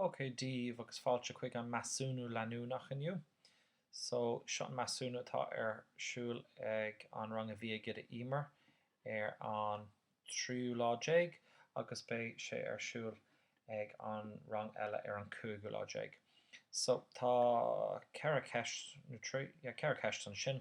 Ok, daoibh agus fáilte chuig an measúnú leanúnach inniu. So, seo an measúnú atá ar siúl ag an rang a bhí ag Ido Emer ar an 13ú lá agus beidh sé ar siúl ag an rang eile ar an 15ú lá. So, tá ceithre cheist, nó trí, yeah, ceithre cheist ansin.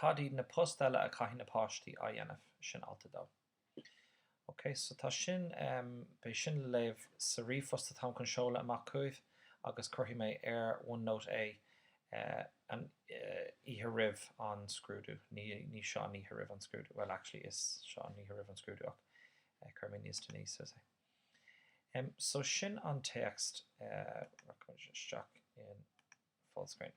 Cad iad na post eile a chaithfidh na páistí a dhéanamh? Sin alt a dó. Ok, so tá sin, beidh sin le léamh sa ríomhphost atáim chun seoladh amach chugaibh agus cuirfidh mé ar OneNote é an oíche roimh an scrúdú, ní, ní seo an oíche roimh an scrúdú, bhuel actually is seo an oíche roimh an scrúdú ach cuirfidh mé níos déanaí suas é. Em, so sin an téacs, rachaimid isteach in Fullscreen.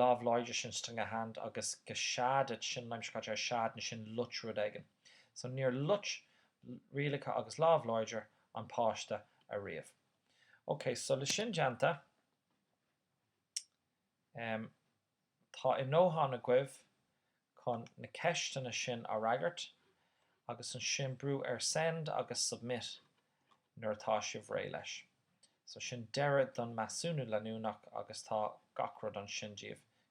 lámh láidir sin strong hand agus go sead it sin an aimsir chaite ar sead na sin loit rud éigin so níor loit rialacha agus lámh láidir an páiste ariamh. Ok so le sin déanta tá a ndóthain agaibh chun na ceisteanna sin a fhreagairt agus ansin brú ar send agus submit nuair atá sibh réidh leis. So sin deireadh don measúnú leanúnach agus tá gach rud ansin daoibh,